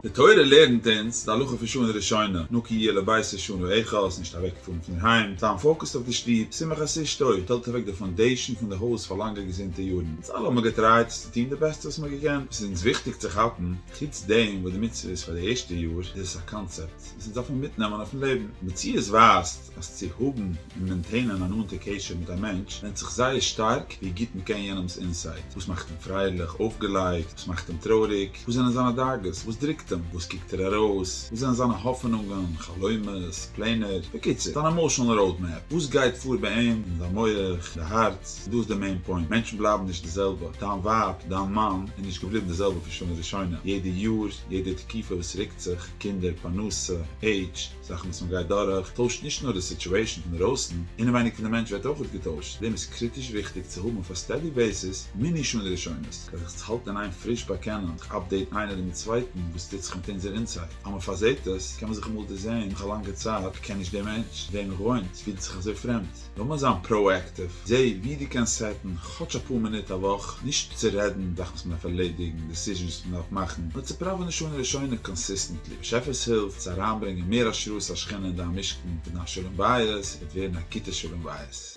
די תורה לערנט אונז די הלכה פון שנה ראשונה, נקי יהיה לביתך שנה אחת, נישט אוועקפארן פון היים, זיין פאוקעסט אויף די שטוב, שמח את אשתו, עס שטעלט אוועק די פאונדעישאן פון די הויז פאר לאנגע געזונטע יארן, אונז אלע האבן געטרייט עס צו טון די בעסטע וואס מען האט געקענט, עס איז אונז וויכטיג צו כאפן, חוץ דעם וואס די מצוה איז פאר די ערשטע יאר, איז עס א קאנצעפט וואס אונז דארפן מיטנעמען אויפן לעבן, מציאות ווייזט. אז צו האבן און מעינטעינען א נאנטע קשר מיט א מענטש ווענדט זיך זייער שטארק ווי גוט מען קען יענעמ'ס אינסייד, וואס מאכט אים פרייליך, אויפגעלייגט, וואס מאכט אים טרויעריג, וואס זענען זיינע דאגות, וואס דרוקט אים, וואס קוקט ער ארויס, וואס זענען זיינע האפענונגען, חלומות, פלענער, בקיצור, זיין עמאושענעל ראוד מעפ, וואס גייט פאר ביי אים, אין זיין מח, אין די הארץ, און דא איז די מעין פוינט, מענטשן בלייבן נישט די זעלבע, דיין ווייב, דיין מאן, איז נישט געבליבן די זעלבע פון שנה ראשונה, יעדע יאר, יעדע תקופה וואס רוקט זיך, קינדער, פרנסה, עידזש, זאכן וואס מען גייט דורך טוישט נישט נאר די סיטועשן אינדערויסן, אינעווייניג פון די מענטש ווערט אויך געטוישט, דעם איז קריטיש וויכטיג צו האבן אויף א סטעדי בעיסיס מיני שונא ראשונות, כדי זיך צו האלטן אין איין פריש באקענען און זיך אפדעיטן איינער מיט צווייטן וואס טוט זיך מיט אונזער אינסייד, אז מען פארזעהט עס קען מען זיך אמאל דערזעהן נאך א לאנגע צייט, איך קען נישט דעם מענטש, וועם איך וואוינט פילט זיך אזוי פרעמד. לאמיר זיין פראאקטיוו, זע ווי דו קענסט סעטן כאטש אפאר מינוט א וואך, נישט צו רעדן זאכן וואס מען דארף ערלעדיגן, דיסיזשענס וואס מען דארף מאכן, נאר צו פראווענען שנה ראשונה קאנסיסטענטלי, באשעפער'ס הילף, צו אריינברענגען מער השראת השכינה אין דיין משכן, וועט דיין שלום בית וועט ווערן א גוטע שלום בית.